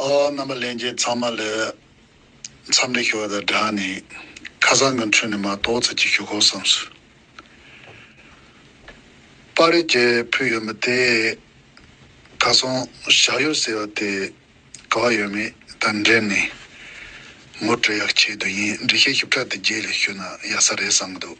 རྣམ་པ་ལེན་རྗེས་ཚང་མ་ལས་མཚམས་འདྲི་ཞུ་བ་དང་སྦྲགས་ནས་ཁ་སང་གི་འཕྲོས་ནས་མ་གཏོགས་ཚིག་གཅིག་ཞུ་ཁོམ་བསམ་སོང། པར་རིས་རྒྱས་ཕུལ་ཡོད་མི་དེས་ཁ་སང་ཞག་ཡོད་ཟེར་བ་དེ་ག་བ་ཡོད་མེད་དང་འབྲེལ་ནས་ངོ་སྤྲོད་ཡག་བྱས་དུས་ཡིན་འབྲི་ཤེས་ཞིབ་ཕྲ་དེ་རྗེས་ལས་ཞུས་ན་ཡག་ས་རེད་བསམ་གྱི་འདུག།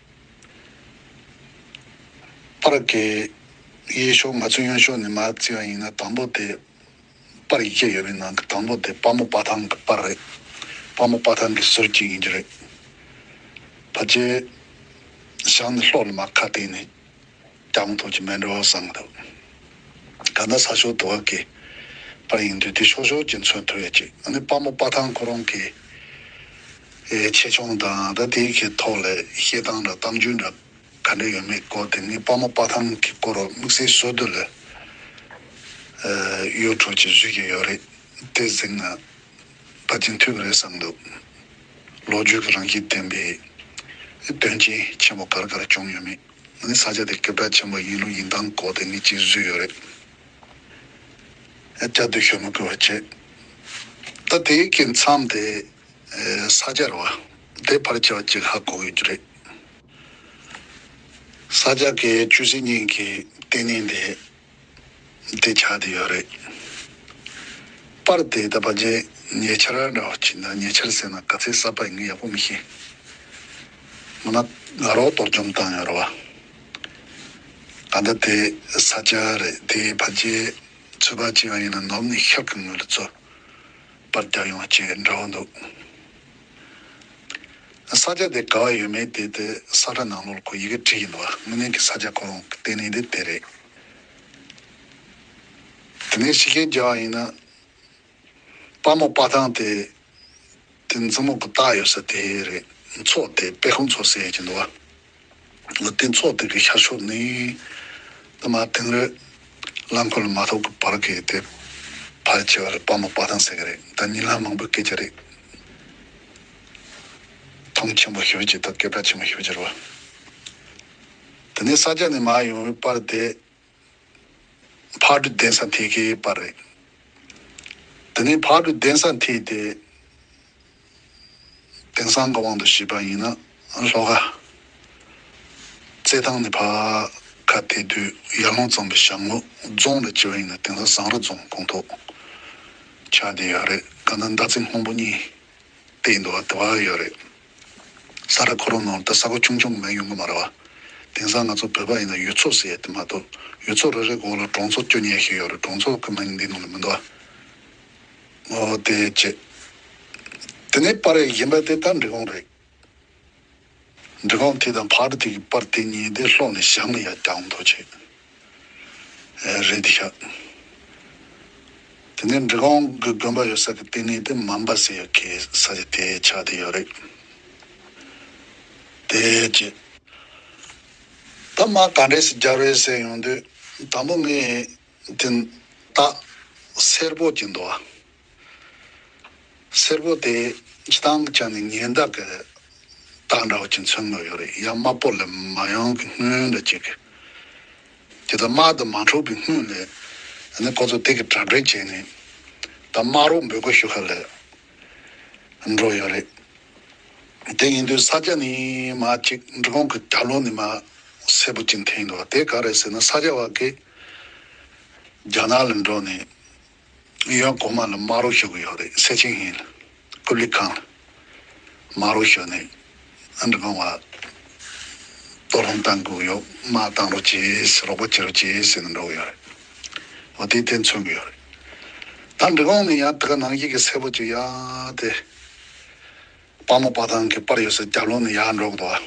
པར་གས་དབྱེ་ཞོར་ང་ཚོས་གཡོན་ཕྱོགས་ནས་མར་བརྩི་བ་ཡིན་ན་དང་པོ་དེ་པར་ཡིག་བརྒྱ་ཡོད་པའི་ནང་གི་དང་པོ་དེ་དཔའ་མོ་དཔའ་ཐང་གི་པར་རེད། དཔའ་མོ་དཔའ་ཐང་གི་ཟུར་གཅིག་ཡིན་རྒྱུ་རེད། བར་རྒྱལ་ཞང་ནི་ལྷོག་ལ་མར་ཁ་བལྟས་ནས། དྲང་ཐོག་གི་མེ་འགྲོ་བསམ་འདུག་ག་ན་ས་ཕྱོགས་དུ་བ་ཀི་པར་ཡིན་དུས་དེ་ཤོག་ཤོག་གི་མཚོན་དུ་ཡོད་ཅིག་ནི་དཔའ་མོ་དཔའ་ཐང་ཁོ་རང་གི་ཆེ་ཆུང་དང་ད་དེའི་གི་ཐོག་ལས་བཤད་སྟངས་འདྲ་གཏམ་རྒྱུད་འདྲ་ག་འདྲ་ཡོད་མེད་སྐོར་དེ་ནི་དཔའ་མོ་དཔའ་ཐང་གི་སྐོར་དམིགས་བསལ་བཟོ་དུ་ལས་གཡོ་འཁྲུག་གི་བཟོས་ཀྱི་ཡོད་རེད་དེ་གཟིགས་ན་པ་རྒྱུན་མཐུད་གི་རེད་བསམ་འདུག་ལོ་རྒྱུས་གི་རང་བཞིན་ལྡན་པའི་དོན་རྐྱེན་ཆེན་པོ་གར་གར་བྱུང་ཡོད་མེད། ངའི་ས་ཆ་དེ་སྐད་གྲགས་ཆེན་པོ་གཡུ་ལུ་ཡིན་སྟངས་གོ་དེ་ནི་སྤྱིར་བཟོས་ཡོད་རེད། ཨེ། བཅའ་སྡོད་ཞོལ་མ་བསྐོས་བ་བྱས། ད་དེའི་སྐད་མཚམས་དེ། ས་ཆ་རེད་བ། དེ་ཕར་བྱས་བ་ཅིག་ཧ་གོ་ཡོད་རྒྱུ་རེད། ས་ཆ་དེའི་ཆུ་སྲིན་གཉིས་ཀྱི་ལྟེ་གནས་དེ། འདི་ཆགས་ཏེ་ཡོད་རེད། པར་དེ་ད་བར་རྗེས་ཉེ་ཆར་འདྲ་བ་བྱིན་ན་ཉེ་ཆར་ཟེར་ན་ག་ཚད་གསར་པ་ཡིན་ངེས་ཡག་པོ་མི་ཤེས། མིན་ན་དགའ་རོགས་གཏོར་བཅོམ་བཏང་ཡོད་རེད་བ། ག་འདྲ་དེ་ས་སྐྱ་རེད་དེ་བར་རྗེས་ཚུད་པ་ཅི་ཡང་ཡིན་ན་ནོར་ནི་ཤག་གི་ངོས་ལ་རྩོད་པར་རྒྱག་ཡོང་བ་བཅས་འདྲ་བོ་འདུག། ས་ཆ་དེ་ག་བ་ཡོད་མེད་དེ་དེ་ས་ཁྲ་ནང་ལོར་ཁོ་ཡི་གེ་བྲིས་ཡིན་འདུག་དངོས་གནས་ཀྱི་ས་ཆ་ཁོ་རང་གི་ལྟས་ནི་དེ་དེ་རེད། དེ་ནས་ཤི་ཁན་རྒྱག་ཡིན་ན། དཔའ་མོ་དཔའ་ཐང་དེ་དེ་འཛིན་མོ་གི་རྟགས་ཡོད་ས་དེ་རེད་མཚོ་དེ་དཔེ་ཁུང་ཚོ་ཟེར་གྱིན་འདུག་བ། ལུས་སྟེང་ཚོགས་སྡེ་གི་ཤར་ཕྱོགས་ནི། བླ་མ་དིང་རི། རླངས་འཁོར་ལ་མ་ཐོགས་ཀྱི་བར་གྱི་དེ། ཕལ་ཆེ་བ་རི་སྤ་མོ་པ་དང་ཟེར་གྱི་རེད་ད་ཉིན་ལྷ་མང་པོས་སྐད་ཆ་རེ། ཐང་ཆེན་པོ་ཞིག་རེད་ཅེས་ད་སྐད་གྲགས་ཆེན་པོ་ཞིག་རེད་ཟེར་བ། དེ་ནས་ས་སྐྱ་ནས་མ་ཡོང་བའི་པར་དེ། བར་དུ་གདན་ས་མཐིལ་གའི་པར་རིས། དེ་ནས་བར་དུ་གདན་ས་མཐིལ་ཏེ། དེང་སང་གི་དབང་དུ་བྱས་པ་ཡིན་ན་ཤློ་ཀ། རྩེད་ཐང་ནས་བར་ཁ་དེ་དུས་ཡར་ལུང་གཙང་པའི་ཞང་ལུག་རྫོང་ལ་བྱེད་པ་ཡིན་ན་དེང་སང་ཟངས་རི་རྫོང་དགོངས་ཐོག་ཆགས་བསྡད་ཡོད་རེད་ག་ན་མདའ་ཚིག་སྔོན་པོ་གཉིས་བཏེགས་འདུག་བ་དེ་བ་ཡོད་རེད། ས་ར་གོ་རོ་ནོར་ད་ས་གོ་ཆུང་ཆུང་མོན་ཡོང་གི་མ་ར་བ། དེང་སང་ང་ཚོ་བོད་པ་ཡིན་ན་ཡུལ་ཚོ་ཟེར་ཡདེ་མ་གཏོགས་ཡུལ་ཚོ་རེ་རེ་གོ་ལ་གྲོང་ཚོ་བསྐྱོ་ཉེ་ཞིག་ཡོད་རེད་གྲོང་ཚོ་ཀ་མ་ཡིན་འདི་ནང་ལ་མི་འདུ་བ། ངོ་བདེ་བྱེད། དེ་ནས་པར་རེ་བཞེངས་པ་དེ་ད་འབྲི་གོང་རེད། འབྲི་གོང་དེ་དང་བར་དེ་གི་པར་དེ་གཉིས་དེ་ལྷོག་ནས་བཞག་ན་ཡག་རྒྱང་མཐོ་བྱེད། རེད་དེ་ཤག། དེ་ནས་འབྲི་གོང་གི་དགོན་པ་ཡོད་ས་གི་ལྟེ་གནས་དེ་མམ་པ་སེ་ཡོད་ཀི་ས་ཆ་དེ་ཆགས་དེ་ཡོད་རེད་དེ། ཅེས། ད་མ་ག་འདྲས་སུ་རྒྱར་བས་སེ་ཡོང་དུས་དང་པོ་ངས་དེ་ལྟ་སེར་པོ་གྱི་འདུག་ཨ། སེར་པོ་དེ་ཇི་ལྟར་བྱས་ནས་ཉེན་བརྡ་གི་རྟགས་འདྲ་བོ་ཅིག་མཚོན་དགོས་ཀྱི་རེད་ཡ་དམར་པོ་ལས་མ་ཡོང་གི་སྔོན་འགྲོ་གཅིག་གི་དེ་ལྟར་དམར་དུ་མ་འཁྲུག་གི་སྔོན་ལས་ཡ་ནི་ཁོ་ཚོ་དེ་གི་དྲ་སྦྲེལ་བྱས་ནས་ད་དམར་རོགས་འབོད་སྐུལ་ཞུ་ཁ་ལས་འགྲོ་ཡོད་རེད་དེ་ཡིན་དུས་ས་སྐྱ་ནི་མ་གཅིག་འབྲི་གོང་གི་རྒྱ་ལོ་ནི་མ་སེར་པོ་གཅིག་འཐེན་དགོས་བ་དེ་ག་རེད་ཟེར་ན་ས་སྐྱ་བ་གིས་རྒྱ་ནག་ལ་འགྲོ་ནས་གཡོན་གོང་མ་ལ་དམར་རོ་ཞུ་གི་ཡོད་རེད་སེ་ཆིང་ཧིན་ཀུ་ལི་ཁང་ལ་དམར་རོ་ཞུ་ནས་ཨ་འདྲི་གོང་མ་གཏོར་རླུང་བཏང་དགོས་ཀྱི་ཡོད་དམག་བཏང་རོ་བྱེད་རོགས་པ་བྱེད་རོ་བྱེད་ཟེར་ནས་འགྲོ་གི་ཡོད་རེད་འོ་དེའི་དེ་མཚོན་གི་ཡོད་རེད་ཨ་འདྲི་གོང་མས་ཡང་དེ་ག་ནང་བཞིན་གྱི་སེར་པོ་ཅིག་ཡང་དེ་དཔའ་མོ་དཔའ་ཐང་གི་པར་ཡོད་སར་རྒྱབ་ལོག་ནས་ཡར་འགྲོ་གི་འདུག་ཨ་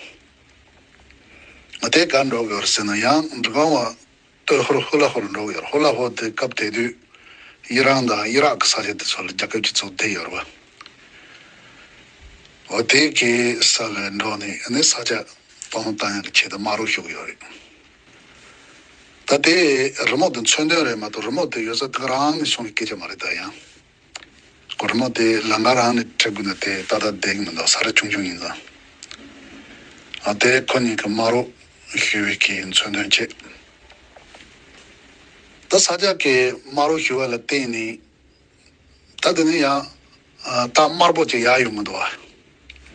འོ་དེ་ག་འགྲོ་གི་ཡོད་རེད་ཟེར་ན་ཡང་འདྲི་གོང་མ། སྟོད་ཧོར་ཧུ་ལ་ཧོར་འབྲོག་ཡོད་ཧོར་ལ་ཧོར་དེ་སྐབས་དེ་དུས་དབྱི་རང་དང་དབྱི་རག་གི་ས་ཆ་དེ་ཚོ་ལ་རྒྱ་ཁབ་ཀྱི་ཚོགས་སྡེ་ཡོད་རོ། འོ་དེ་གའི་ས་ལ་འབྲོག་ནས་ནི་ས་ཆ་སྟོང་བཏང་ཡག་གི་ཆེད་དུ་མ་རུ་ཞུགས་ཡོད་རེད། ད་དེ་རི་མོ་དེ་མཚོན་དོན་རེད་མ་གཏོགས་རི་མོ་དེ་ཡོད་ས་ག་རང་ནས་བྱུང་བའི་སྐད་ཆ་མ་རེད་ད་ཡང། གོར་མོ་དེ་ལང་ཀ་རང་ནས་བྲི་དགོས་ན་དེ་ཏག་ཏག་བསྡད་ཀྱི་མི་འདུག་ས་ར་ཆུང་ཆུང་ཡིན་ཙང། ཨ་དེ་ཁོ་གཉིས་ཀྱི་སྨྲ་རོགས་ཞུ་བའི་གིས་མཚོན་དོན་ཅི། ད་ས་སྐྱ་ཀའི་སྨྲ་རོགས་ཞུ་བ་ལ་བརྟེན་ནས་ད་དེ་ནས་ཡང་རྟགས་དམར་པོ་ཅིག་ཡག་ཡོད་མི་འདུག་བ།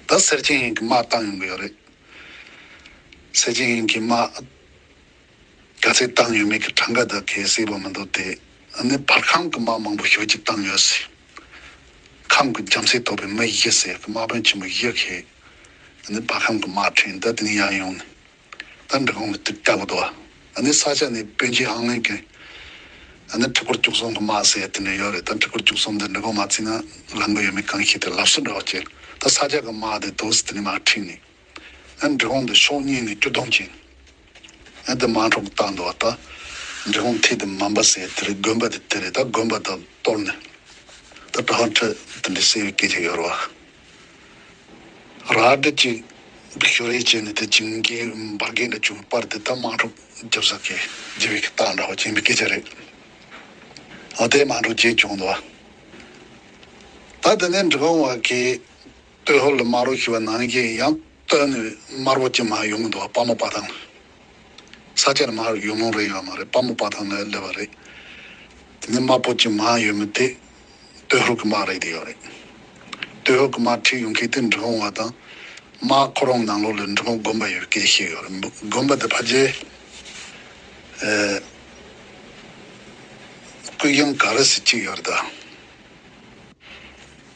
ད་སེར་ཆེན་ཡིན་གྱི་སྨྲ་བཏང་ཡོང་གི་ཡོད་རེད། སེར་ཆེན་ཡིན་གྱི་སྨྲ། ག་ཚད་བཏང་ཡོད་མེད་ཀྱི་གྲངས་ཀ་དག་གལ་སྲིད་པ་མི་འདུག་དེ་ནི་བར་ཁམས་ཀྱི་དམག་མང་པོ་ཞོལ་གྱིས་བཏང་ཡོད་སྲིད། ཁམས་ཀྱི་རྒྱམ་སྲས་ཐོགས་པའི་མི་བཞི་སྲས་ཀྱི་དམག་དཔོན་ཆེན་པོ་བཞི་ཞེས་ནི་བར་ཁམས་ཀྱི་དམག་ཕྲན་འདི་དེང་ཡང་ཡོང་ནས་འབྲི་གུང་གི་སྟེང་སྐྲག་འདུག་ནི་ས་ཆ་ནི་བོན་ཆེན་ཧང་ལིན་གྱིས་ནི་ཁྲི་ཕོར་བཅུ་གསུམ་གྱི་དམག་སྲས་དེ་འདྲ་ཡོད་རེད་ད་ཁྲི་ཕོར་བཅུ་གསུམ་འདི་འབྲི་གུང་མ་བརྩིས་ན་ལང་གི་ཡོད་མེད་གང་ཤེས་ཏེ་ལབ་སུ་འདྲ་བ་བྱས་ད་ས་ཆ་གི་དམག་དེ་དོ་སི་ཐི་ནི་དམག་ཕྲན་ནི། ཨ་འབྲི་གུང་དུ་ཤོག་སྙིང་ནས་སྐྱོ་གདུང་བཅིངས། ཨ་དེ་མང་གྲོགས་བཏང་འདུག་ཨ་འབྲི་གུང་ཐིག་དེ་མམ་པ་སེ་དེ་རེད་དགོན་པ་དེ་དེ་རེད་ད་དགོན་པ་དག་གཏོར་ནས་ད་གྲྭ་བ་ཁྲི་དེ་འདྲའི་སེ་བའི་སྐད་ཆ་ཡོད་རེད་བ། ར་དྲི་གཅིག་ཞོ་རེ་བྱས་ནས་དེ་བྱིངས་རྒན་འབར་རྒན་འདྲ་བྱུང་བའི་པར་དེ་ད་མང་གྲོགས་རྒྱབ་ས་ཁའི་རྗེ་བའི་ཁ་བཏགས་འདྲ་བ་བཅིངས་པའི་སྐད་ཆ་རེད་བ། ད་མང་གྲོགས་བརྗེད་བྱུང་འདུག་ཨ། ད་དེ་ནས་འབྲི་གུང་བ་ཁའི། སྟོད་ཧོར་ལ་དམར་བོ་ཞུ་བ་ནང་བཞིན་ཡང་སྟོད་ནས་དམར་བོ་ཅིག་མ་ཡོང་གི་འདུག་བ་དཔའ་མོ་དཔའ་ཐང་ལས། ས་ཆ་ནས་མ་ཡོང་ནོང་རེ་ཡོད་བ་མ་རེད་དཔའ་མོ་དཔའ་ཐང་ལས་སླེབས་བ་རེད། དེ་ནས་དམར་བོ་ཅིག་མ་ཡོད་མི་དེ་སྟོད་ཧོར་གི་དམག་རེད་དེ་ཡོད་རེད། སྟོད་ཧོར་གི་དམག་ཁྲིད་ཡོང་མཁན་དེ་འབྲི་གུང་བ་དང། དམག་ཁོ་རང་ནང་ལོགས་ལས་འབྲི་གུང་དགོན་པ་ཡོད་སྐད་བཤད་ཡོད་རེད་འདུག་དགོན་པ་དེ་ཕ་རྗེ་ཀུན་དབྱངས་ག་རེ་ཟེར་གཅིག་ཡོད་རེད་ད།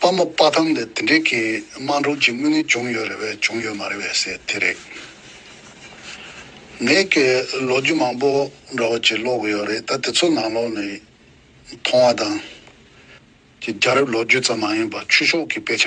པ་མ་དཔའ་ཐམ་ལས་དེ་འདྲའི་གིས་དམངས་གྲོངས་ཀྱི་དངོས་གནས་བྱུང་ཡོད་རེད་བས་བྱུང་ཡོད་མ་རེད་བས་ཟེར་དེ་རེད། ནས་ཀྱི་ལོ་རྒྱུས་མང་པོ་འདྲ་བོ་ཅིག་ཀློག་གི་ཡོད་རེད་ད་དེ་ཚོ་ནང་ལོགས་ནས་མཐོང་བ་དང། ཀྱི་རྒྱ་རབས་ལོ་རྒྱུས་ཙམ་མ་ཡིན་པར་ཆུ་ཤོག་གི་དཔེ་ཆ།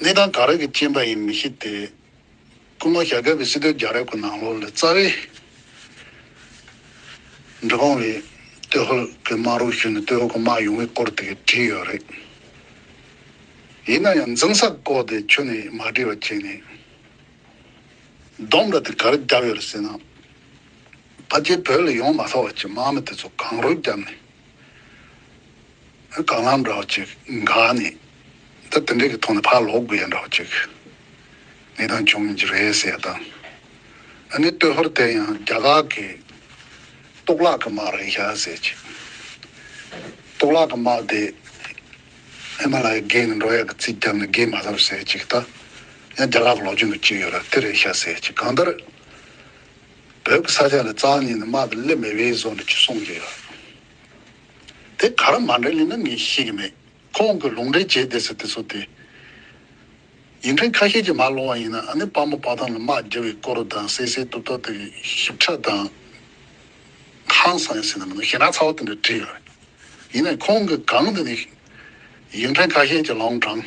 གནས་སྟངས་ག་རེ་གི་རྐྱེན་པ་ཡིན་མི་ཤེས་ཏེ། སྐུ་ངོ་ཞྭ་སྒབ་པའི་སྲིད་དོན་རྒྱ་རེབ་ཀྱི་ནང་ལོགས་ལས་རྩ་བའི་འབྲུ་ཁང་བའི་སྟོད་ཧོལ་གྱི་དམག་རུ་ཤུལ་ནས་སྟོད་ཧོལ་གྱི་དམག་ཡོང་བའི་སྐོར་དེ་གས་བྲིས་ཡོད་རེད། ཡིན་ན་ཡང་འཛིང་ས་བཀོག་དེ་ཁྱོན་ནས་མ་བྲིས་པ་བྱས་ནས། སྡོམ་འདྲ་དེ་ག་རེ་བརྒྱབ་ཡོད་རེད་ཟེར་ན། ཕ་རྒྱལ་བོད་ལ་ཡོང་མ་ཐག་བར་གྱི་དམག་མི་དེ་ཚོ་གང་རུལ་བརྒྱབ་ནས། གང་ལགས་འདྲ་བ་ཅིག་འགའ་ནི། འདི་དེ་འདྲས་ཀྱི་ཐོག་ནས་ཕར་ལོག་དགོས་ཡ་འདྲ་བ་ཅིག་ངེས་དང་འབྱུང་གི་རེད་ཟེར་དང། ཨ་ནི་སྟོད་ཧོར་དེ་ཡང་རྒྱ་གར་གྱི་གཏོགས་ལགས་ཀྱི་དམག་རེད་ཤག་ཟེར་ཅིག། གཏོགས་ལགས་ཀྱི་དམག་དེ་ཨེ་མ་ལ་ཡའི་སྒེར་ནས་འགྲོ་ཡ་གི་རྩིས་བརྒྱབ་ནས་སྒེར་མ་ཟབ་ཟེར་ཅིག་ད་ཡང་རྒྱ་གར་གྱི་ལོག་རྒྱུ་འདུག་ཅིག་ཡོད་ར་དེ་རེད་ཤག་ཟེར་ཅིག་གང་ལྟར་བོད་ཀྱི་ས་ཆ་ལ་རྩ་ནས་ནི་དམག་གི་སླེབས་མེད་པའི་བཟོ་འདྲ་ཅིག་སོང་གི་ཡོད། དེ་ག་ར་མ་འདྲེ་ལེ་ན་ངས་ཤེས་ཀྱི་མེད་ཁོང་གི་ལུང་འདྲེ་བྱས་བསྡད་ཟེར་དེ་ཚོ་དེ་ཡིན་དྲན་ཁ་ཤས་ཀྱི་མ་ལོང་བ་ཡིན་ན་ཨ་ནེ་དཔའ་མོ་དཔའ་ཐང་ལ་དམག་རྒྱལ་བའི་སྐོར་རུ་དང་སེ་སེའི་ཏུབ་ཏོ་དེ་གི་ཞིབ་ཕྲ་དང་ཧང་སང་ཡིན་ཟེར་ན་མི་འདུག་ཞེ་ན་ཚ་བོ་དེ་འདྲས་བྲིས་ཡོད་ཡིན་ནའི་ཁོང་གི་གང་དེ་ནི་ཡིན་དྲན་ཁ་ཤས་ཀྱི་ལོང་གྲངས།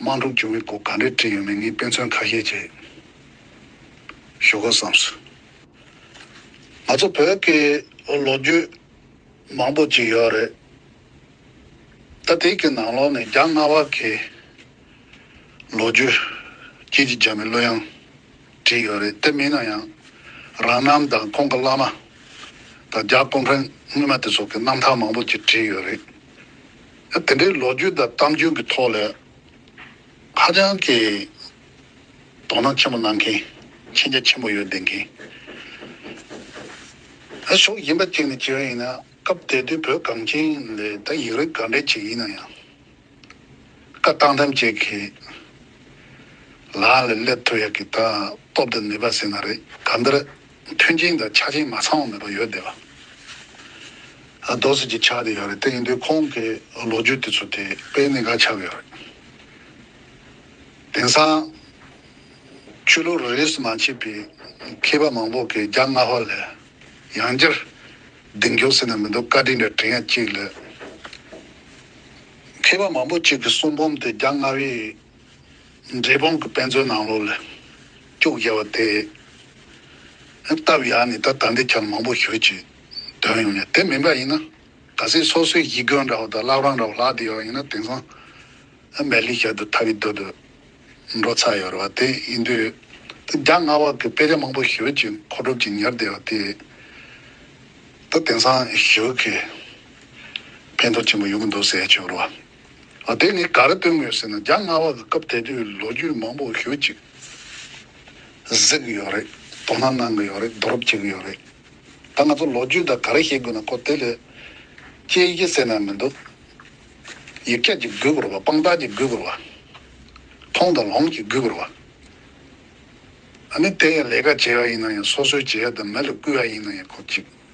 དམངས་སྒྲུབ་འཇུ་མི་སྒོ་ག་འདྲས་བྲིས་ཡོད་མེད་ངས་དཔེ་མཚོན་ཁ་ཤས་བྱས་ཞོ་དགོ་བསམས་སོ། ང་ཚོ་བོད་ཀྱི་ལོ་རྒྱུས་མང་པོ་ཅིག་ཡོད་རེད། ད་དེ་གི་ནང་ལོག་ནས་རྒྱ་རྔ་བ་གི་ལོ་རྒྱུས་སྐྱིད་ཀྱི་རྒྱ་མི་གླུ་དབྱངས་བྲིས་ཡོད་རེད་དེ་མིན་ན་ཡང་རང་རྣམ་དང་ཁོང་གི་བླ་མ་དང་རྒྱ་ཀོམ་ཕྲན་སྔོན་མ་དེ་ཚོ་གི་རྣམ་ཐར་མང་པོ་ཅིག་བྲིས་ཡོད་རེད། དེ་འདྲའི་ལོ་རྒྱུས་དང་གཏམ་རྒྱུད་ཀྱི་ཐོག་ལས་ཧ་ཅང་གི་དོ་སྣང་ཆེན་པོ་གནང་མཁན་མཁྱེན་རྒྱ་ཆེན་པོ་ཡོད་བསྡད་མཁན་ཨ་ཞོག་ཡིན་པ་ཅིག་ནི་ཅི་རང་ཡིན་ན་སྐབས་དེ་དུས་བོད་གངས་ཅན་ལས་ད་ཡིག་རིགས་ག་འདྲའི་ཅིག་ཡིན་ན་ཡང་བཀའ་བཏང་ཐམས་ཅད་ཀྱི་ལག་ལས་སླེབས་ཐུབ་ཡག་གི་ད་སྟོབས་དང་ནུས་པ་ཟེར་ན་རེ་ག་འདིར་མཐུན་རྐྱེན་དང་ཆ་རྐྱེན་མ་ཚང་བ་མེད་པ་ཡོད་བསྡད་པ། རྡོ་ཟེར་གྱི་ཆ་དེ་ཡོད་རེད་དེ་ཡིན་དུས་ཁོང་གི་ལོ་རྒྱུས་དེ་ཚོ་དེ་དཔེ་གནད་འགག་ཆགས་ཡོད་རེད། དེང་སང། ཆོས་ལུགས་རིས་སུ་མ་མཆིས་པའི་མཁས་པ་མང་པོ་གིས་རྒྱ་རྔ་བ་ལས་ཡང་བསྐྱར་གདེང་རྒྱོགས་ཟེར་ན་མི་འདུག་བཀའ་དྲིན་འདྲ་དྲིན་ཡང་གཅིག་ལས། མཁས་པ་མང་པོ་གཅིག་གི་གསུང་འབུམ་དེ་རྒྱ་རྔ་བའི་འབྲས་སྤུངས་ཀྱི་དཔེ་མཛོད་ནང་ལོ་ལ་སྐྱུག་བརྒྱབ་པ་དེ་སྟབས་ཡག་ནི་ད་ད་འདི་ཁྱར་མང་པོ་ཞུ་ཅེས་དོན་ཡོང་ཡ་དེ་མིན་པ་ཡིན་ན་ག་སྲིད་སོ་སོའི་ཡིད་རྒོལ་འདྲ་བོ་དང་བླ་བྲང་འདྲ་བོ་ལག་ཏུ་ཡོད་པ་ཡིན་ན་དེང་སང་མལ་ལི་ཞབས་དུ་ཐ་བི་དོ་དུ་འགྲོ་ཚར་ཡོད་རེད་བ་དེ་ཡིན་དུས་ད་རྒྱ་རྔ་བ་ཀྱི་དཔེ་ཆ་མང་པོ་ཞུ་ཅེས་མཁོ་སྒྲུབ་ཀྱིས་ཉར་བསྡད་པ་དེ་ད་དེང་སང་ཞུ་གི་ཕན་ཐོག་ཆེན་པོ་ཡོང་གི་འདུག་ཟེར་ཆོག་རེད་བ། ཨ་དེ་ནི་ག་རེ་སྟོན་དགོས་ཟེར་ན་རྒྱ་དམར་བ་ལ་སྐབས་དེ་དུས་ལོ་རྒྱུས་མང་པོ་ཞུ་ཅིག་གཟིགས་གི་ཡོད་རེད་དོ་སྣང་གནང་གི་ཡོད་རེད་བསྡུ་རུབ་བྱེད་ཀྱི་ཡོད་རེད་ད་ང་ཚོ་ལོ་རྒྱུས་དང་ག་རེ་བཤད་དགོས་ན་ཁོ་དེ་ལས་དཔྱད་གཞི་གསལ་ནང་མི་འདུག་ཡིག་སྐྱག་ཅིག་འབུད་དགོས་རེད་པ་དཔང་རྟགས་ཅིག་འབུད་དགོས་རེད་པ་མཐོང་དང་ལོང་ཅིག་འབུད་དགོས་རེད་པ་ཨ་ནི་དེ་ཡང་ལས་ཀ་བྱེད་ཡག་ཡིན་ན་ཡང་སོ་སོའི་བྱེད་ཡག་དང་མི་ལ་སྐུལ་ཡག་ཡིན་ན་ཡང་ཁོ་གཅིག།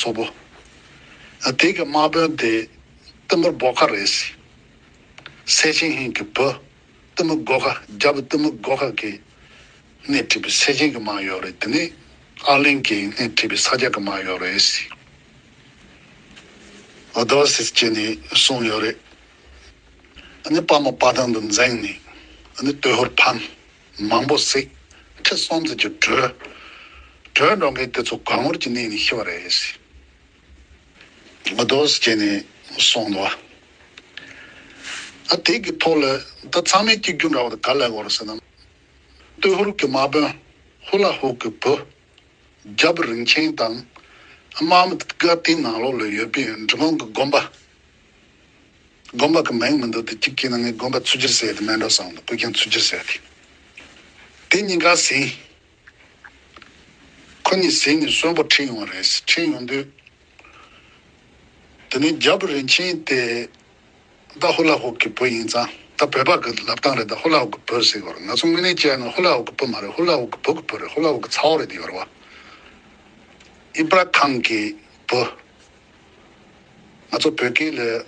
སོག་པོ། དེ་གི་དམག་དཔོན་དེ་གཏི་མུག་སྦོ་ཁ་རེད། སེ་ཆེན་ཧིན་གི་བུ་གཏི་མུག་སྒོ་ཁ་རྒྱ་བུ་གཏི་མུག་སྒོ་ཁ་གི་སྣེ་ཁྲིད་པའི་སེ་ཆེན་གི་དམག་ཡོག་རེད་དེ་ནི་ཨར་ལིང་གི་སྣེ་ཁྲིད་པའི་ས་སྐྱ་གི་དམག་ཡོག་རེད། ཨོ་དོ་སིས་ཀྱི་ནི་གསུང་ཡོག་རེད། ཨ་ནི་དཔའ་མོ་དཔའ་ཐང་དུ་འཛེང་ནི་ཨ་ནི་སྟོད་ཧོར་ཕམ། མང་པོ་བསྲེགས། ཁྲི་སྲོང་རྩེ་རྒྱུ་སྒྲོལ། སྒྲོལ་འགྲོ་མཁན་དེ་ཚོ་གངས་བོར་གྱི་གནས་ནས་ཤི་བ་རེད། ངོ་དོགས་སྐྱེས་ནས་སོང་འདུག་ཨ། དེ་གི་ཐོག་ལ་ད་ཚང་མའི་སྐྱིད་རྒྱུ་འདྲ་བ་དེ་ག་ལ་དགོས་རེད་ཟེར་ན། སྟོད་ཧུར་གི་མ་དཔོན་ཧུ་ལ་ཧུ་གི་བུ། རྒྱ་བུ་རིན་ཆེན་དང། དམག་མི་དགའ་ལྡན་ནང་ལོག་ལ་ཡོད་པའི་འབྲི་གུང་གི་དགོན་པ། དགོན་པ་གི་མིང་མི་འདོགས་ཏེ་གཅིག་གྱིས་ནི་ངས་དགོན་པ་ཚུར་སྒྱུར་ཟེར་ཡོད་དེ་སྨན་གྲོལ་བཟང་དང་སྐུ་རྒྱན་ཚུར་སྒྱུར་ཟེར་ཡོད་དེ། དེ་གཉིས་ཀ་ཟིན། ཁོ་གཉིས་ཟིན་ནས་གསོན་པོ་ཁྲིད་ཡོང་བ་རེད་ཟེར་ཁྲིད་ཡོང་དུས། དེ་ནི་རྒྱལ་པོ་རིན་ཆེན་དེ་ཏཱ་ཧུ་ལ་ཧོག་གི་བུ་ཡིན་ཙང་ད་བོད་པ་གི་ལབ་སྟངས་རེད་ད་ཧུ་ལ་ཧོག་གི་བུ་ཟེར་བར་ང་ཚོ་དངོས་གནས་བྱས་ཡོད་ན་ཧུ་ལ་ཧོག་གི་བུ་མ་རེད་ཧུ་ལ་ཧོག་གི་བུ་གི་བུ་རེད་ཧུ་ལ་ཧོག་གི་ཚ་བོ་རེད་དེ་ཡོར་བ་ཨི་པ་ར་ཁང་གི་བུ། ང་ཚོ་བོད་སྐད་ལས་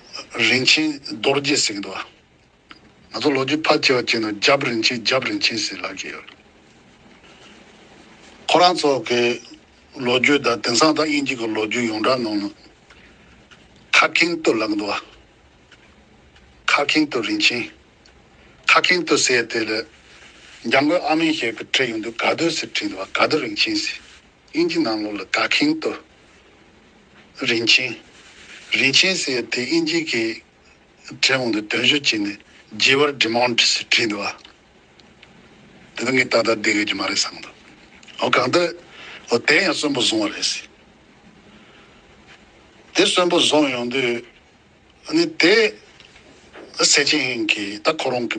རིན་ཆེན་རྡོ་རྗེ་ཟེར་གྱི་འདུག་ང་ཚོ་ལོ་རྒྱུས་ཕར་བཅད་བ་བཅད་ནས་རྒྱབ་རིན་ཆེན་རྒྱབ་རིན་ཆེན་ཟེར་ལབ་ཀྱི་ཡོད། ཁོ་རང་ཚོ་གི་ལོ་རྒྱུས་དང་དེང་སང་དང་དབྱིན་ཇི་གི་ལོ་རྒྱུས་ཡོངས་གྲགས་ནང་ན་ཁ་གྷིང་ཏུ་ལབ་གི་འདུག་ཁ་གྷིང་ཏུ་རིན་ཆེན་ཁ་གྷིང་ཏུ་ཟེར་དེ་ལས་རྒྱ་མགོའི་ཨ་མའི་ཞལ་གྱི་བྲིས་ཡོང་དུས་ག་དུ་ཟེར་བྲིས་འདུག་ག་དུ་རིན་ཆེན་ཟེར་དབྱིན་ཇི་ནང་ལོགས་ལ་ག་གྷིང་ཏུ། རིན་ཆེན། རིན་ཆེན་ཟེར་ཡ་དེ་ཨིན་ཇི་གི་གྲས་གོང་དུ་དོན་ཞུ་བྱས་ནས་རྒྱས་པར Demount ཞེས་བྲིས་འདུག་ཨ། དེ་ད་ངས་ད་ལྟ་བསྡད་ཡོད་ཀྱི་མ་རེད་བསམ་འདུག་ཨོ་གང་ལྟར་ཨོ་དེ་ཡང་གསོན་པོ་བཟུང་བ་རེད་ཟེར། དེ་གསོན་པོ་བཟུང་ཡོང་དུས་ཨ་ནི་དེ་ཟེར་ཆེན་ཧིན་གིས་ད་ཁོ་རང་གི་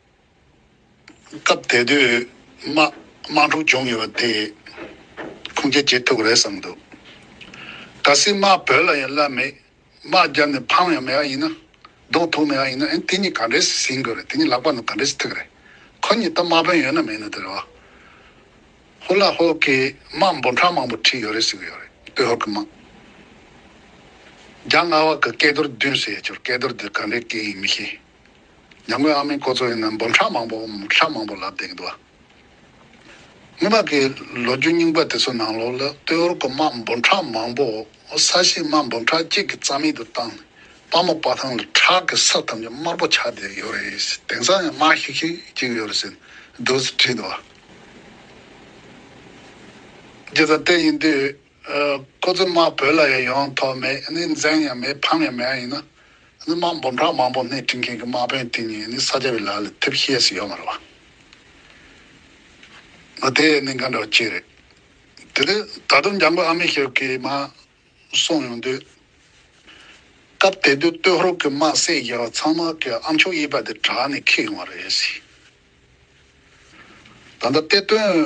སྐབས་དེ་དུས་དམག་འཁྲུག་བྱུང་ཡོད་པ་དེས་ཁུངས་སྐྱེལ་བྱེད་ཐུབ་རེད་བསམ་འདུག་ག་སྲིད་དམག་བོད་ལ་ཡང་བླ་མེད་དམག་རྒྱབ་ནས་འཕང་ཡང་མེད་ཨ་ཡིན་ན་ལྡོག་ཐུག་མེད་ཨ་ཡིན་ན་ཨེ་དེ་གཉིས་ག་འདྲའི་ཟིན་དགོས་རེད་དེ་གཉིས་ལག་པ་ནང་ག་འདྲའི་ཐུག་རེད་ཁོ་གཉིས་ད་དམག་དཔོན་ཡོད་ན་མེད་ན་དེ་རེད་བ། ཧུ་ལ་ཧོ་གིས་དམག་འབོར་གྲངས་མང་པོ་ཁྲིད་ཡོད་རེད་ཟེར་གི་ཡོད་རེད་སྟོད་ཧོར་གི་དམག་རྒྱ་རྔ་བ་གི་སྐལ་རྡོར་བདུན་ཟེར་ཡོད་ཆོར་སྐལ་རྡོར་དེ་ག་འདྲའི་སྐལ་ཡིན་མི་ཤེས། ཉམས་མགོན་ཨ་མའི་སྐོར་ཚོ་ཡིན་ན་འབུམ་ཕྲག་མང་པོ་ཕྲག་མང་པོ་ལབ་འདེགས་འདུག་ཨ། སྔོན་མ་གི་ལོ་རྒྱུས་རྙིང་པ་དེ་ཚོ་ནང་ལོག་ལ་སྟོད་ཨོར་ཀོ་དམག་འབུམ་ཕྲག་མང་པོ་ས་གཞི་དམག་འབུམ་ཕྲག་གཅིག་གི་རྩ་མེད་དུ་བཏང་ནས་དཔའ་མོ་དཔའ་ཐང་ལ་ཁྲག་གི་ས་ཐམས་ཅད་དམར་པོ་ཆགས་བསྡད་ཡོད་རེད་ཟེར་དེང་སང་ཡང་དམག་ཤིག་ཤིག་ཅིག་ཡོད་རེད་ཟེར་འདུག་ཟེར་བྲིས་འདུག་ཨ། རྗེ་བཙན་བསྟན་ཡིན་དུས། ཁོ་ཚོའི་དམག་བོད་ལ་ཡང་ཡོང་ཐོབ་མེད་ནི་འཛེམ་ཡང་མེད་ཕམ་ཡང་མེད་ཡིན་ན། དམག་འབུམ་ཕྲག་མང་པོ་སྣེ་སྤྲིང་མཁན་གྱི་དམག་དཔོན་དེ་ཉིད་ནི་ས་སྐྱ་བའི་ལག་ལས་ཐེབས་ཤེས་སུ་ཡོད་མ་རེད་བ། དེ་ནི་འགའ་འདྲ་བ་གཅིག་རེད། དེ་ལས་ད་དུང་འཇང་དགུན་ཨ་མེས་ཞབས་ཀྱིས་དམག་སོང་ཡོང་དུས། སྐབས་དེ་དུས་སྟོད་ཧོར་གྱི་དམག་སེར་རྒྱལ་བ་ཚང་དམག་གི་ཨ་མཆོག་གཡས་པ་དེ་བྲག་ནས་ཁེགས་ཡོང་བ་རེད། ད་ལྟ་གཏེར་སྟོན་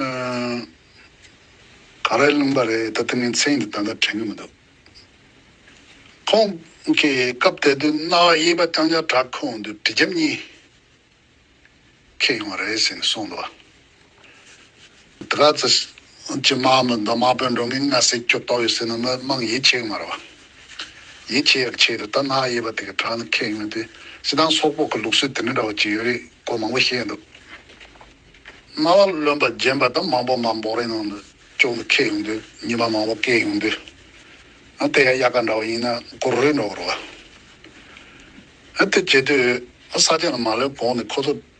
ག་རེ་ལུང་པ་རེད་ད་དེ་མིན་མཚན་གྱི་ད་ལྟ་དྲན་གྱི་མི་འདུག་ཁོང་གིས་སྐབས་དེ་དུས་རྣ་བ་གཡས་པ་རྐྱང་རྐྱང་གྲག་ཁོ་འོང་དུས་གྲི་རྒྱབ་གཉིས་ཁེལ་ཡོང་བ་རེད་ཟེར་ནས་གསུངས་འདུག་དེ་ག་ཚོད་སྤྱི་དམངས་མི་འདི་མང་པོས་འགྲོ་མིན་ང་སྲིད་སྐྱོབ་ཏོག་ཡོད་ཟེར་ན་མི་དམངས་ཡིད་ཆེས་གི་མ་རེད་བ། ཡིད་ཆེས་ཡག་ཆེས་རེད་ད་ནག་ཡེ་བ་དེ་གི་དྲག་ནི་ཁེངས་ཡོད་དེ་སྤྱི་དང་སོག་པོག་གི་ལུགས་སྲོལ་དེ་འདྲ་འདྲ་བ་ཅིག་ཡོད་རེད་གོ་མང་པོ་ཤེས་འདུག་རྣ་བ་རློན་པ་རྗེན་པ་དང་མང་པོ་མ་འབོག་རེད་ནང་དུ་ཅོག་ནི་ཁེ་ཡོང་དུས་ཉི་མ་མང་པོ་བཀལ་ཡོང་དུས་ཨ་དེ་ཡ་ཡ་ག་འདྲ་བ་ཡིན་ན་གུ་རུའི་འདྲ་བ་རེད་བ། ཨ་དེ་བྱེད་དུས་ཨ་ས་ཆ་ནི་མ་ལོན་གོང་ནི་ཁོ་ཚོ་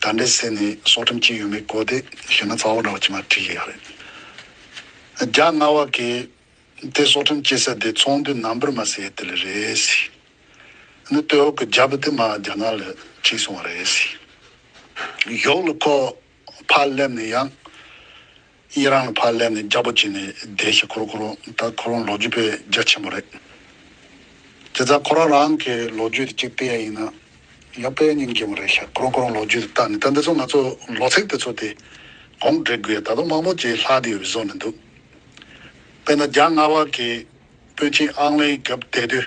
ད་འདྲའི་ཟས་ནི་སྲོག་ཁྲིམས་གཅིག་ཡོད་མེད་གོ་བདེ་ཞེ་ན་རྩ་བ་འདྲ་བ་ཅི་མ་བྲིས་ཡག་རེད། རྒྱ་རྔ་བ་གས་དེ་སྲོག་ཁྲིམས་སྐྱེ་ས་དེ་ཚོང་དུས་ནམ་བུར་མ་ཟེ་དེ་ལས་རེད། ནི་སྟོད་འོག་གི་རྒྱ་བུ་དེ་མ་རྒྱ་ནག་ལ་ཁྲིད་སོང་བ་རེད། ཡོག་ལུ་ཁོག་ཕར་སླེབས་ནས་ཡང། ཡེ་རང་ལ་ཕར་སླེབས་ནས་རྒྱ་པོ་བྱས་ནས་བསྡད་ཤི་ཁོ་རོ་ཁོ་རོ་ད་ཁོ་རང་ལོ་རྒྱུས་པའི་རྒྱ་ཆེན་པོ་རེད། དེ་ཙང་ཁོ་རང་རང་གི་ལོ་རྒྱུས་དེ་གཅིག་བལྟས་ཡ་ཡིན་ན་ཡང་དཔེ་རྙིང་རྒྱས་པོ་རེད་ཤག་ཁོ་རང་ཁོ་རང་ལོ་རྒྱུས་དེ་བལྟ་ནས་ད་འདི་ཚོ་ང་ཚོ་ལོ་ཚེགས་དེ་ཚོ་དེ་གོང་བསྒྲིག་དགོས་ད་དུང་མང་པོ་ཅིག་ལྷག་དེ་ཡོད་པའི་བཟོ་ནས་འདུག་དཔེར་ན་རྒྱ་དམར་བ་གིས་དཔོན་ཆེན་ཨང་ལེའི་སྐབས་བསྡད་དུས་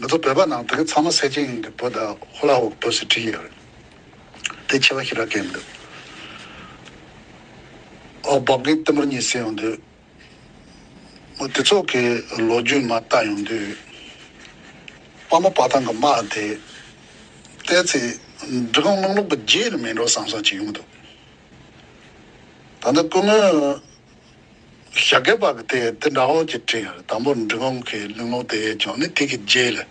ང་ཚོ་བོད་པ་ནང་བོད་ཚང་མ་སེར་ཆེན་ཡིན་གི་བོ་ད་ཧོ་ལ་ཧོག་དོ་སི་ཁྲི་ཡོད་རེད་དེ་ཆེ་བ་ཤི་ར་ཀན་འདུག་ཨོ་བོག་གིས་ཏི་མུར་གཉིད་སད་ཡོང་དུས་མོ་དེ་ཚོགས་གི་ལོ་རྒྱུས་མ་བལྟ་ཡོང་དུས་དཔའ་མོ་དཔའ་ཐང་གི་དམག་དེ་བལྟས་ཚེ་འབྲི་གུང་དམག་ལུགས་པ་རྗེས་ལ་མི་འགྲོ་བསམ་བསམ་བྱེད་ཡོང་གི་འདུག་ད་ལྟ་སྐུ་ངོས་ཞག་གེ་བག་སྟེ་དེ་འདྲ་འོག་གི་དྲི་ཡར་དམ་པོར་འབྲི་གོང་གི་གླིང་ལོ་དེའི་ལྗོངས་ནི་དེ་གི་རྗེས་ལས།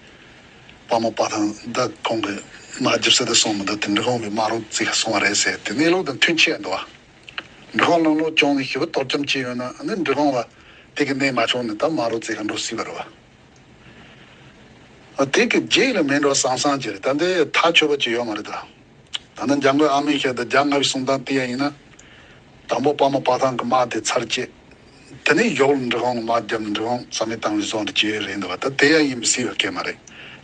དཔའ་མོ་དཔའ་ཐང་འདི་གོང་གི་མ་རྒྱུར་ཟེར་དུ་སོང་མི་འདུག་དེ་འབྲི་གོང་གི་མ་རོ་བརྩིགས་སོང་བ་རེད་ཟེར་དེ་གནས་ལུགས་དང་མཐུན་ཆེས་འདུག་འབྲི་གོང་གླིང་ལོ་ལྗོངས་ནི་ཞི་བ་གཏོར་བཅོམ་བྱས་ཡོད་ན་ནི་འབྲི་གོང་ལ་དེ་གི་གནས་མ་བྱུང་ནི་ད་མ་རོ་བརྩིགས་ག་འགྲོ་སྲིད་པ་རེད་བ། དེ་གི་རྗེས་ལས་མེད་འགྲོ་སང་སང་གྱི་རེད་ད་འདི་ཐག་ཆོད་པ་གཅིག་ཡོད་མ་རེད་ད། ད་ནི་རྒྱ་མགོའི་ཨ་མས་བཤད་དུ་རྒྱ་རྔ་བའི་གསུང་སྟངས་དེ་ཡང་ཡིན་ན། དང་པོ་པདྨ་དཔའ་ཐང་གི་དམག་དེ་ཚར་བཅད། དེ་ནས་ཡོག་ལུ་འབྲི་གོང་གི་དམག་བརྒྱབ་ནས་འབྲི་གོང་རྩ་མེད་བཏང་བའི་བཟོ་འདི་ཇེ་རེད་འདུག་བ་ད་དེ་ཡ་ཡིན་མི་སྲིད་པའི་སྐད་མ་རེད།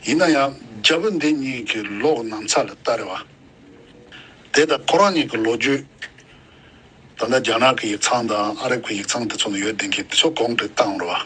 ཡིན་ན་ཡང་རྒྱ་བོད་འདི་གཉིས་ཀྱི་ལོག་ནང་ཚ་ལ་ལྟ་རེད་བ། དེ་ལྟ་ཁོ་རང་གཉིས་ཀྱི་ལོ་རྒྱུས། ད་ལྟ་རྒྱ་ནག་གི་ཡིག་ཚང་དང་ཨ་རབ་ཀྱི་ཡིག་ཚང་དེ་ཚོ་ནང་ཡོད་བདེན་གི་དེ་ཚོ་གོང་འཕེལ་བཏང་རོགས།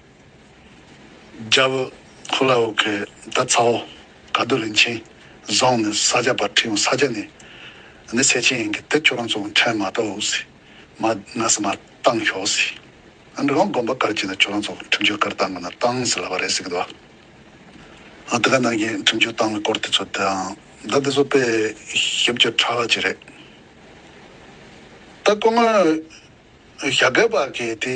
རྒྱལ་བུ་ཁོ་ལ་ཨོ་ཁེ་ད་ཚ་ཨོ་ག་རྡོ་རིན་ཆེན་བཟང་ནི་ས་སྐྱ་པ་ཁྲི་ཡོང་ས་སྐྱ་ནི་ནི་ཚེ་ཆེན་ཡིན་གི་དེ་ཁྱོད་རང་ཚོ་ཨོ་ཁྲན་མ་ད་ཨོ་སི་མ་ན་སི་མ་བཏང་ཤོག་སི་ཨ་འདྲི་གང་དགོན་པ་དཀར་གྱི་ན་ཁྱོད་རང་ཚོ་ཁྲིམས་གཅོད་དཀར་བཏང་གི་ན་བཏང་སི་ལབ་པ་རེད་སི་གི་འདུག་ཨ་དེ་ག་ནང་གི་ཁྲིམས་གཅོད་བཏང་བའི་སྐོར་དེ་ཚོ་དེའང་ད་དེ་ཚོ་དཔེ་ཞིབ་ཀྱི་ཕྲ་བ་གཅིག་རེད་ད་སྐུ་ངོ་ཞྭ་སྒལ་བ་གིས་དེ།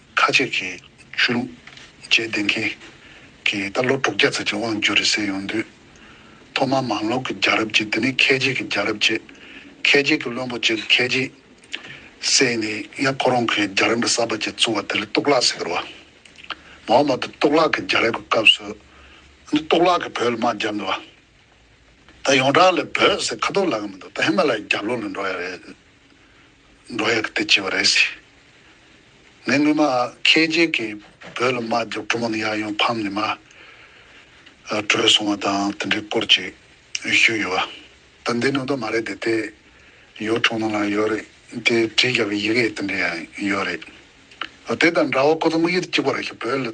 ཁ་ཅིག་གིས་ཆོས་ལུགས་དཔྱད་འདེམས་མཁན་གྱིས་ད་ལོ་དྲུག་བརྒྱ་ཚར་གྱི་དབང་བསྒྱུར་རེད་ཟེར་ཡོང་དུས། ཐོག་མར་མང་ལོག་གི་རྒྱལ་རབས་ཅེས་དེ་ནི་ཁལ་རྗེས་ཀྱི་རྒྱལ་རབས་ཅེས། ཁལ་རྗེས་ཀྱི་བློན་པོ་གཅིག་གིས་ཁལ་རྗེས་བསད་ནས་ཡང་ཁོ་རང་གི་རྒྱལ་རབས་འདི་གསར་པ་ཅིག་བཙུགས་བ་དེ་ལ་གཏུག་ལག་ཟེར་བ། མ་འོངས་པ་དེ་གཏུག་ལག་གི་རྒྱལ་རབས་ཀྱི་སྐབས་སུ་འདི་གཏུག་ལག་གིས་བོད་ལ་དམག་བརྒྱབ་འདུག་བ། ད་ཡོངས་གྲགས་ལ་བོད་ཟེར་ཁ་ཐུག་ལག་གི་མི་འདུག་ད་ཧི་མ་ལ་ཡའི་རྒྱབ་ལོགས་ལ་འགྲོ་ཡ་རེད། འགྲོ་ཡག་དེ་ཅི་བ་རེད་སི། ངས་སྔོན་མ་ཁྱེད་རྗེས་ཀྱི་བོད་ལ་མ་རྒྱོབ་གྲུ་མང་ཡག་ཡོང་ཕམ་ནས་མ་བྲོས་སོང་བ་དང་དེ་འདྲའི་སྐོར་ཅིག་ཞུས་ཡོད་བ། དོན་དེ་ནང་དོན་མ་རེད་དེ་དེ་ཡོ་ཐུག་ནང་ལ་ཡོད་རེད་དེ་བྲིས་བཞག་པའི་ཡི་གེ་དེ་འདྲ་ཡང་ཡོད་རེད། དེ་དང་འདྲ་བ་ཁོ་ཚོ་དམིགས་ཡུལ་གཅིག་པ་རེད་ཤི་བོད་ལ་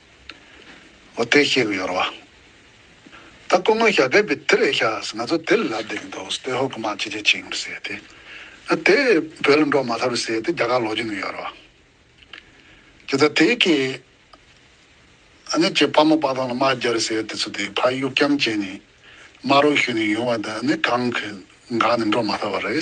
འོ་དེ་ཤེས་གི་ཡོད་རེད་བ། ད་སྐུ་ངོ་ཞྭ་སྒལ་པའི་དེ་རེད་ཤགས་ང་ཚོ་དེ་ལ་ལབ་བསྡད་ཀྱི་འདུག་ཏོའི་ཧོ་ཀི་མ་ཅི་བྱེད་བྱེད་གི་འདུག་ཟེར་ཏེ། ཨ་དེ་བོད་ལ་འགྲོ་མ་ཐག་རེད་ཟེར་ཏེ་རྒྱ་གར་ལོག་གྱི་ཡོད་རེད་བ། ཇི་ལྟར་དེ་གི་ཨ་ནི་ཁྱེད་ཕ་མ་དཔའ་ཐང་ལ་མ་རྒྱ་རེད་ཟེར་ཏེ་ཚུར་དེ་ཕ་གཡུག་རྐྱང་བྱས་ནས་མ་རོགས་ཞུས་ནས་ཡོང་བ་དེ་ཨ་ནི་གང་གི་འགག་ནས་འགྲོ་མ་ཐག་བ་རེད།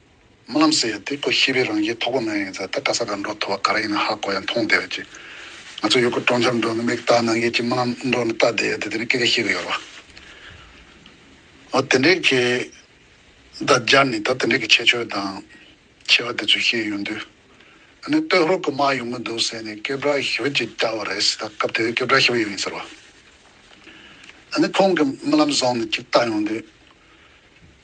རྨི་ལམ་ཟེར་ཡ་དེ་ཁོ་ཤི་བའི་རང་བཞིན་ཐོག་པོ་མ་ཡིན་ས་ད་ག་ས་ག་འགྲོ་ཐུ་བ་ག་ར་ཡིན་ན་ཧ་གོ་ཡ་མཐོང་བསྡད་ཀྱི། ང་ཚོ་ཡུལ་སྐོར་གྲོང་འཆམ་འགྲོ་ནི་མིག་བལྟ་ནང་གི་ཀྱི་རྨི་ལམ་འགྲོ་ནི་བལྟ་བསྡད་ཡ་དེ་དེ་ནི་སྐད་ག་ཤེས་གི་ཡོད་ར། ཨོ་དེ་འདྲའི་གི། ད་རྒྱ་ནི་ད་དེ་འདྲའི་གི་ཆེ་ཆོས་དང། ཆེ་བ་དེ་ཚོས་ཤེས་ཡོད་འདུག། ཨ་ནི་སྟོད་ཧོར་གི་མ་ཡོང་གི་འདུག་ཟེར་ནས་སྐད་བྲག་ཤི་བ་ཅིག་བལྟ་བ་རེད་ཟེར་ད་སྐབས་དེ་བས་སྐད་བྲག་ཤི་བ་ཡོད་ཡིན་ཟེར་བ། ཨ་ནི་ཁོང་གི་རྨི་ལམ་བཟང་ནི་ཅིག་བལྟ་ཡོང་འདུག།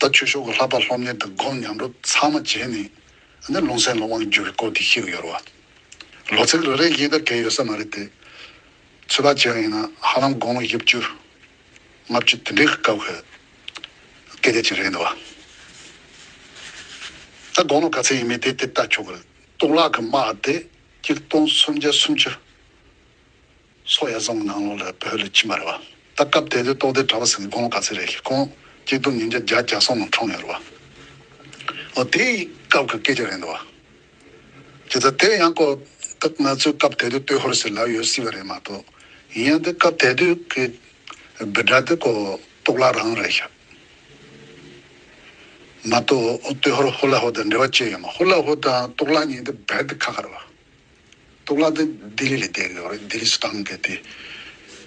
ད་ཆོས་ཕྱོགས་ཀྱི་ལྷག་པར་སློབ་གཉེར་དང་སྒོམ་ཉམས་རོ་ཚང་མ་བྱས་ནས་ནི་རླུང་སེམས་ལ་དབང་བསྒྱུར་བའི་སྐོར་དེ་ཤེས་ཀྱི་ཡོད་རེད་བ། ལོ་ཚིགས་རེ་རེའི་དབྱེ་བསྡུར་འགལ་ཡོད་ས་མ་རེད་དེ། ཚོད་དཔག་བྱེད་རང་ཡིན་ན་ཧ་ལམ་དགུང་ལོ་བཞི་བཅུ། ལྔ་བཅུ་དེ་འདྲའི་སྐབས་ཁོས་སྐད་ཆ་བྱེད་རན་འདུག་བ། ད་དགུང་ལོ་ག་ཚད་ཡིན་མིན་དེ་དེབ་ལྟ་ཆོག་གི་རེད། གཏོང་ལག་གི་དམག་དེ་སྐྱིལ་སྟོང་སུམ་བརྒྱ་སུམ་ཅུ། སོག་ཡ་རྫོང་གི་ནང་ལོགས་ལ་བོད་ལ་ཁྱིམ་པ་རེད་བ། ད་སྐབས་དེ་དུས་ཏོག་སྡེ་གྲྭ་བ་ཟེར་ནས་དགོང་ལོ་ག་ཚོད་རེད་ཤེས་ཁོང་སྐྱིད་སྡུག་ཉིན་བརྒྱ་བརྒྱ་བརྒྱ་སོག་ནང་འཁྲུངས་ཡོད་རེད་བ། ཨོ་དེ་ཡི་སྐབས་ཀྱི་སྐད་ཆ་རེད་འདུག་བ། ཇི་ཙམ་དེ་ཡང་གོ། ད་ང་ཚོའི་སྐབས་དེ་དུས་ཏོའི་ཧོར་ཟེར་ལབ་ཡོད་སྲིད་བ་རེད་མ་གཏོགས། ཡིན་ཡང་དེ་སྐབས་དེ་དུས་ཀྱི་སྦིར་སྒྲ་དེ་གོ་ཏོག་བླ་རང་རེད་ཤག། མ་གཏོགས་ཏོའི་ཧོར་ཧོ་ལ་ཧོ་དང་འབྲེལ་བ་ཅི་ཡོད་མ་ཧོ་ལ་ཧོ་དང་ཏོག་བླ་གཉིས་དེ་སྦིར་དེ་ཁ་ཁ་རེད་བ། གཏུག་ལག་དེ་ལྡི་ལི་ལས་བསྡད་ཡོད་རེད་ལྡི་ལི་སུ་དང་བསྡད་དེ་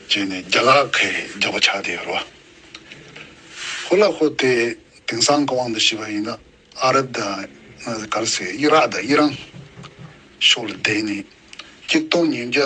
བྱས་ནས་རྒྱ་ལག་ཁའི་རྒྱག་པ་ཆགས་བསྡད་ཡོད་རེད་བ། ཁོ་ལ་ཁོ་དེ་དེང་སང་གི་དབང་དུ་བྱས་པ་ཡིན་ན་ཨ་རབ་དང་ག་རེ་ཟེར་དབྱི་རག་དང་དབྱི་རང་ཕྱོགས་ལ་བསྡད་ནས་སྐྱིད་སྟོང་ཉིན་བརྒྱ་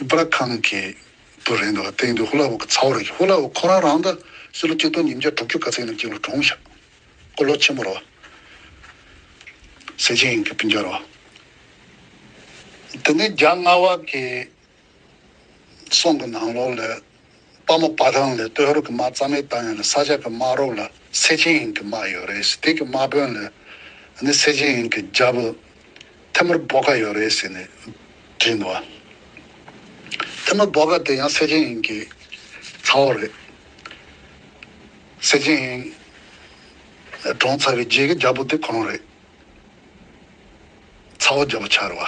ཨིབ་ར་ཁང་གི་དུ་རེད་འདུག་ལ་སྟེང་དུ་ཧུ་ལ་ཝུ་གི་ཚ་བོ་རེད་ཀྱི་ཧུ་ལ་ཝུ་ཁོ་རང་རང་ད་སི་ལོ་སྐྱིད་སྟོང་ཉིས་བརྒྱ་དྲུག་ཅུ་ག་ཚད་ཡིན་ན་སྐྱིད་ལོ་གྲོངས་ཤག་ཀོ་ལོ་ཆེན་མོ་རོ་སེ་ཅིང་གི་བི་འཇའ་རོ་དེ་ནས་རྒྱ་རྔ་བ་གི་སོང་གི་ནང་ལོག་ལས་དཔའ་མོ་བ་རང་ལས་སྟོད་རོག་གི་དམག་རྩ་མེད་བཏང་ཡོད་ལ་ས་ཆ་གི་དམག་རོག་ལ་སེ་ཆེན་ཡིན་གི་དམག་ཡོད་རེད་ཟེར་དེ་གི་དམག་དཔོན་ལས་ནི་སེ་ཆེན་ཡིན་གི་རྒྱ་བོད་ཐེ་མུར་བོ་ག་ཡོད་རེད་ཟེར་ནས་བྲིས་འདུག་བ། ཐེ་མུར་བོ་ག་དེ་ཡང་སེ་ཆེན་ཡིན་གི་ཚ་བོ་རེད། སེ་ཆེན་ཡིན་གྲོངས་ཚར་བའི་རྗེས་ཀི་རྒྱ་བོ་དེ་གོང་རེད། ཚ་བོ་རྒྱ་བོ་ཆར་བ།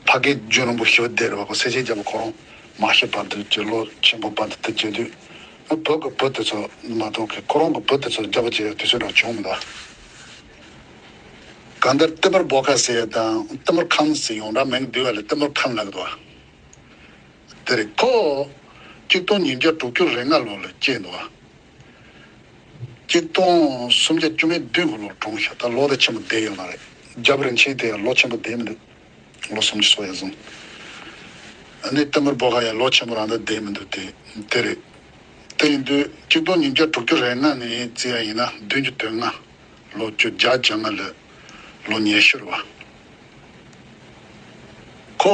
ཕ་གི་རྒྱུད་རིང་པོ་ཞི་བ་སྡེ་རུ་བ་ཀོ་སེ་རྗེས་རྒྱལ་པོ་གོ་རོང་མ་ཞེས་པ་འདི་རྗེ་བློ་ཆེན་པོ་པ་འདི་དེ་རྗེས་དུས་ཨ་བོད་ཀྱི་བུ་དེ་ཚོ་མ་གཏོགས་ཀི་ཁོ་རང་གི་བུ་དེ་ཚོ་རྒྱལ་པོ་བྱེད་ཡ་དུས་ཚོད་རང་བྱུང་མི་འདུག་གང་ལྟར་ཏི་མུར་བོ་ཁ་ཟེར་ཡ་དང་ཏི་མུར་ཁམས་ཟེར་ཡོང་འདྲ་མིང་འདི་བ་ལས་ཏི་མུར་ཁམས་ལགས་འདུག་དེ་རེད་ཁོ། གཅིག་སྟོང་ཉིས་བརྒྱ་དྲུག་ཅུ་རེ་ལྔ་ལོ་ལ་སྐྱེས་འདུག། གཅིག་སྟོང་སུམ་བརྒྱ་བཅོ་ལྔའི་དུས་འཁོར་ལོར་གྲོངས་ཤོག་ད་ལོ་དེ་ཆེན་པོ་བསྡད་ཡོད་མ་རེད་རྒྱབ་རིན་ཆེན་དེ་ཡང་ལོ་ཆེན་པོ་བསྡད་མི་འདུག་ལོ་སུམ་ཅུ་སོ་ཡ་བཟུང་ཨ་ནི་ཏེ་མུར་བོ་ག་ཡང་ལོ་ཆེན་པོ་རང་དག་བསྡད་མི་འདུག་དེ་དེ་རེད་དེ་ཡིན་དུས་གཅིག་སྟོང་ཉིས་བརྒྱ་དྲུག་ཅུ་རེ་ལྔ་ནས་བརྩི་ཡ་ཡིན་ན་བདུན་ཅུ་དོན་ལྔ་ལོ་བཅུ་བརྒྱ་བརྒྱ་ལྔ་ལོས་ལོ་ཉེར་ཤུར་བ་ཁོ་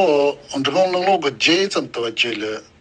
འབྲི་ཀོང་གླིང་ལོ་གོ་བརྒྱད་ཙམ་དུ་བ་བརྒྱད་ལོས།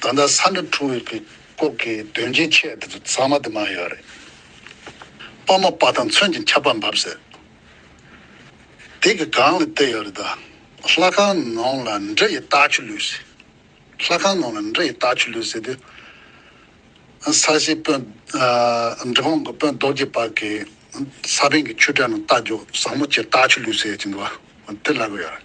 ད་ལྟ་ས་འདྲ་འཁྲུངས་ཡོད་པའི་སྐོར་གྱི་དོན་རྐྱེན་ཆེ་འདི་ཚོ་ཚང་མ་དུ་མ་ཡོད་རེད། དཔའ་མོ་དཔའ་དང་མཚོན་གྱི་ཁྱབ་པ་འབབ་ཟེར། དེ་གི་སྒང་ལ་བལྟས་ཡོད་རེད་ད། ལྷ་ཁང་ནང་ལ་འདྲེ་ཡི་རྟགས་ཆུ་ལུད་ཟེར། ལྷ་ཁང་ནང་ལ་འདྲེ་ཡི་རྟགས་ཆུ་ལུད་ཟེར་དུས། ས་གཞིའི་དཔོན། འདྲེ་ཁང་གི་དཔོན་རྡོ་རྗེ་པགས་ཀྱི་ས་བོན་གྱི་ཆུ་དྲན་ན་རྟ་རྒྱུག་བཟང་མོ་ཆེ་རྟགས་ཆུ་ལུད་ཟེར་ཡོད་ཀྱིན་འདུག་བ་དེ་ལབ་ཡོད་རེད།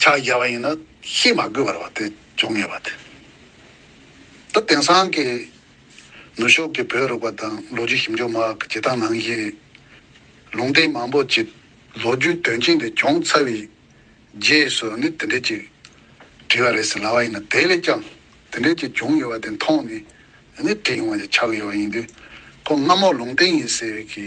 ཕྱག་རྒྱ་བ་ཡིན་ན་ཤེས་མ་དགོས་པར་བ་དེ་འབྱུང་ངེས་པ་དེ། ད་དེང་སང་གི་ནུ་ཞོགས་ཀྱི་བོད་རུག་པ་དང་ལོ་རྒྱུས་ཞིབ་འཇུག་མ་གི་བྱེད་སྟངས་ནང་བཞིན་ལུང་བསྟན་མང་པོ་གྱི་ལོ་རྒྱུས་དོན་རྐྱེན་དེ་བྱུང་ཚར་བའི་རྗེས་སུ་ནི་དེ་འདྲས་ཀྱི་བྲིས་བ་རེད་ཟེར་ལ་བ་ཡིན་ན་དེ་ལས་ཀྱང་དེ་འདྲས་ཀྱི་བྱུང་ཡོད་བ་དེ་མཐོང་ནས་ནི་བྲིས་ཡོང་བ་ཞིག་ཆགས་ཡོད་བ་ཡིན་དུས་ཁོ་སྔ་མོ་ལུང་བསྟན་ཡིན་ཟེར་བའི་གི་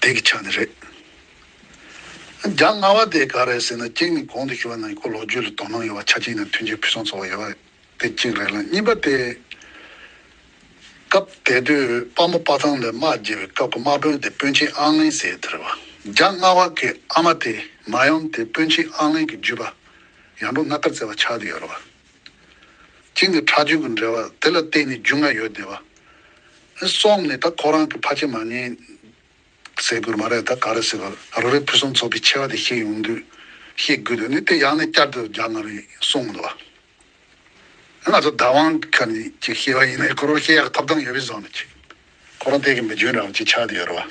བདེ་གི་ཆ་ནས་རེད། རྒྱ་སྔ་བ་དེ་ག་རེད་ཟེར་ན་གཅིག་ནི་གོང་དུ་ཞུ་བ་ནང་ཡི་གོ་ལོག་རྒྱུད་ལ་དོ་སྣང་ཡོད་བ་ཆ་གཅིག་ནི་མཐུན་རྐྱེན་ཕུན་སུམ་ཚོགས་བ་ཡོད་བ་དེ་གཅིག་རེད་ལ་གཉིས་པ་དེ། སྐབས་དེ་དུས་དཔའ་མོ་དཔའ་ཐང་ལས་དམག་རྒྱལ་བའི་སྐབས་ཀྱི་དམག་དཔོན་དེ་དཔོན་ཆེན་ཨང་ལིན་ཟེར་དེ་རེད་བ་རྒྱ་སྔ་བ་གི་ཨ་མ་དེ་མ་ཡོམ་དེ་དཔོན་ཆེན་ཨང་ལིན་གྱི་བརྒྱུད་པ་ཡང་འབྲོང་སྣ་དཀར་བཙལ་བ་ཆགས་དུས་ཡོད་རེད་བ། གཅིག་ནི་ཁྲག་རྒྱུན་གྱི་འབྲེལ་བ་དེ་ལ་བརྟེན་ནས་རྒྱུས་མངའ་ཡོད་བསྡད་པ། སོགས་ནས་ད་ཁོ་རང་གི་ཕ་ཆེ་མ་ངན། ཟེར་དགོས་རྨ་རེད་ད་ག་རེ་ཟེར་བར་རོ་རས་ཕུན་སུམ་ཚོགས་པའི་ཆེ་བ་དེ་ཤེས་ཡོང་དུས་ཤེས་དགོས་དོན་ནི་དེ་ཡང་ནས་བསྐྱར་དུ་རྒྱག་ང་རེད་གསུངས་འདུག་བ། ང་ཚོ་བདག་དབང་གི་ཁ་ནས་ཅིག་ཤེས་བ་ཡིན་ན་ཁོ་རང་ཤེས་ཡག་གི་ཐོབ་ཐང་ཡོད་པའི་བཟང་ན་ཅིག་ཁོ་རང་དེ་གི་མི་འཇོན་རང་ཅིག་ཆགས་དེ་ཡོད་རེད་བ།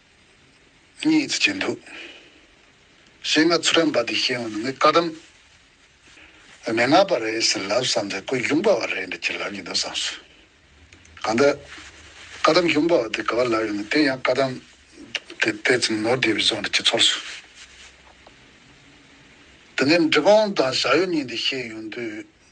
གཉིས་ཚུལ་ཅན་འདུག། ཞེས་ངག་ཚུལ་རམས་པ་འདི་ཤེས་ཡོང་ནི་མི་དཀའ་དམ། མི་སྔ་བ་རེད་ཟེར་ལབ་བསམ་ཚེ་ཀོས་གཞུང་པ་བ་རེད་འདྲ་ཅི་ལབ་ཀྱི་འདུག་བསམ་སོང། གང་ལྟར། དཀའ་དམ་གཞུང་པ་བ་འདི་ག་བ་ལབ་ཡོང་ནི་དེ་ཡང་དཀའ་དམ། དེ་དེ་ཙམ་ནོར་བདེ་བའི་བཟོ་འདྲ་ཅི་ཚོར་སོང། དེ་ནས་འབྲི་གོང་དང་བྱ་ཡུལ་གཉིས་འདི་ཤེས་ཡོང་དུས།